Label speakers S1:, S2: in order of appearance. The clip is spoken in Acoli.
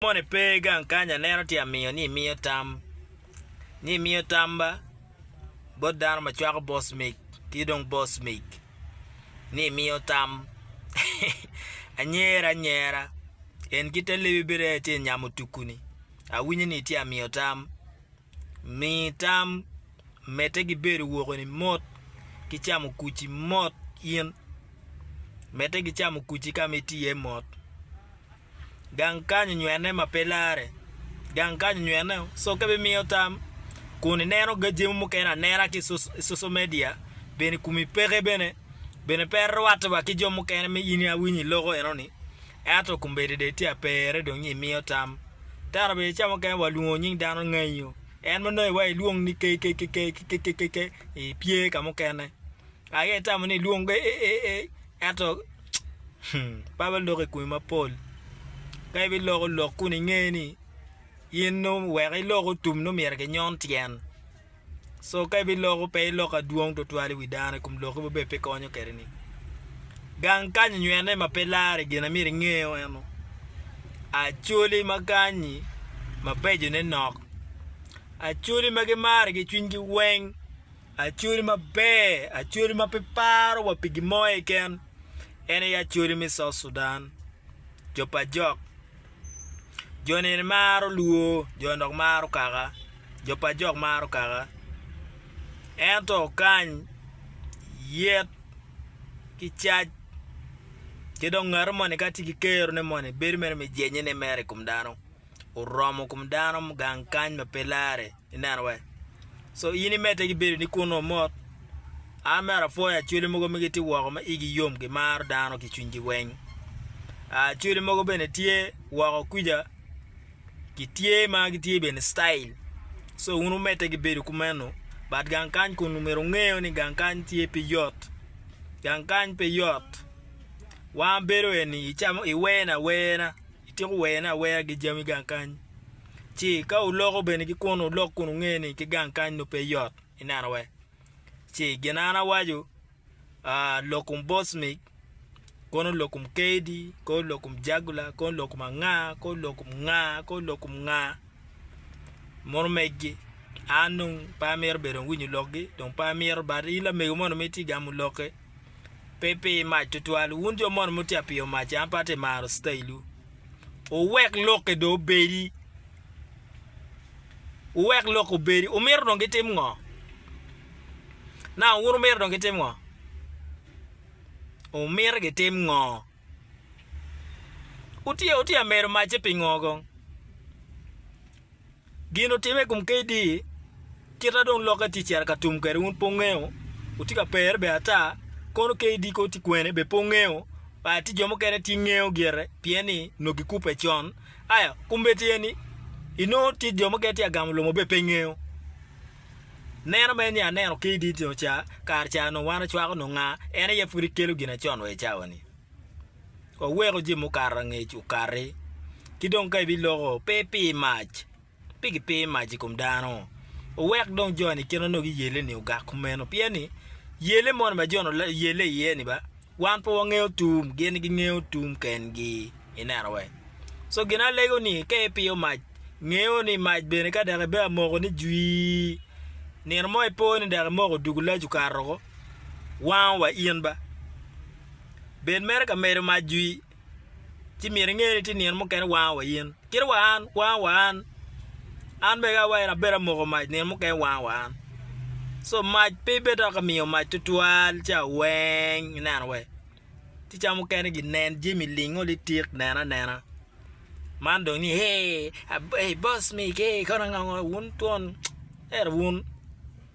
S1: moni pe gang kany aneno tye amiyo ni imiyo tam ni imiyo tam ba bot dano ma cwako boss mic ki dong boss mic ni imiyo tam anyera anyera en ki te lebi bene tye nyamo tuku ni awinyo ni itye amiyo tam. Mi tam, Medde ki bedo woko-ni mot, ki camo kuc-ci mot in. Medde ki camo kuc-ci ka ma itye iye mot. Gang kany onywene ma pe larre. Gang kany onywene, so ka ibimiyo tam kun ineno jami mukene anena ki i cocal media, bene i komi peke bene, bene pe irwatte wa ki jo mukene ma in awinyo iloko enoni. Ento kombeddi dong itye aperre dong nyo imiyo tam. Tero obedo ca mukene wa lwongo nying dano nganyo. En ma nongo iwaco ilwong ni KKKKKKKK ipye ka mukene. Aye itamo ni ilwong AAAA ento hmm Bible loko i komi mapol. Ka ibiloko lok kun inge ni in nongo wek ilok otum nongo myero kinyon tyen. So ka ibiloko pe iloko adwong twatwal i wi dano i kom loki maber pe konyo kede ni. Gang kanyi nywene ma pe lare gin amir ingeo eno acholi ma kanyi mabejo ne nok acholi ma gimari gi cwiny gi weng acholi maber acholi ma pe paro wa pi gimo keken en aye acholi me south Sudan jo pa jok. Jo neni maro lwor, jo nok maro kaka, jo pa jok maro kaka. Ento kany yet ki cac ki dong ngati moni ka tye ki kerone moni bedo mere me jennye mere i kom dano, oromo kom dano gang kany ma pe larre. i nenowa. So in imedde ki bedo ni kunnu mot? An mere apwoyo acholi mogo ma gitye woko ma igi yom gimaro dano ki cwinygi weng. Acholi mogo bene tye woko kuja gitye ma gitye bene style. So wun wumedde ki bedo kumeno but gang kany kun myero wungeyo ni gang kany tye pe yot. Gang kany pe yot wan bedo eni icamo iwene awena ityeko wene awena ki jami gang kany. Ci ka wuloko bene ki kunnu, wulok kun wunge ni ki gang kany nongo pe yot ineno we. Ci gin an awaco, ah, lokum Bosmik, kono lokum Keidi, kono lokum Jagula, kono lokum anga, kono lokum nga, kono lokum nga, mono meggi. An dong pe amito bedo dong winyo lokgi, dong pe amito, but in lamego moni ma itye gamo lokke, pe pi mac tutwal, wun jo mono mutye ka piyo mac, an pe atye maro citailwu. Wuwek lokke dong obedi, wuwek lokke obedi. Wumito dong gitim ngo? Nang wun wumito dong gitim ngo? Wumito gitim ngo? Wutye wutye ka medo macce pingo kong? Gin otimme i kom KD, kita dong lokke tye cito ka tum kwede wun pe wungeyo, wutye ka pere be ata, kono KD kong tye kwene be pe wungeyo, aya tye jo mukene tye ngeyo gire pien ni nongo gikubbe con, aya kombeddi aye ni inongo tye jo mukene tye ka gamo lomo be pe ngeyo. Neno mere ni aneno KD tino ca, kare ca nongo wan acwako nongo nga, en aye pud ikelo gin acon wa i cawa ni. Waweko jami mukato angec okati, ki dong ka ibiloko, pe ipir mac, pe gipir mac i kom dano. Wuwek dong joni i kine onongo giyelle-ni ogak kumeno, pien ni yelle moni ma joni oyelle iye-ni ba, wan pe wangeyo tum, gin gingeyo tum kengi. Ineno wee? Co gin alego ni ka ipiyo mac, ngeyo ni mac bene ka dok ibedo amoko ni jwii, nino mo ipo ni dok imoko odugo lac okato oko, wango wa in ba. bed mere ka medo mac jwi, ci myero inge ni tye nino mukene wango wa in, kit wa an wango wa an, an bene ka awayi ni abedo amoko mac nino mukene wango wa an, so mac pe ibed dok imiyo mac tutwal ci aweng ineno we, ci ca mukene gi nen jami lingo litik neno anena, man dong ni ee boss me kee kono ango ango wun twon ento wun.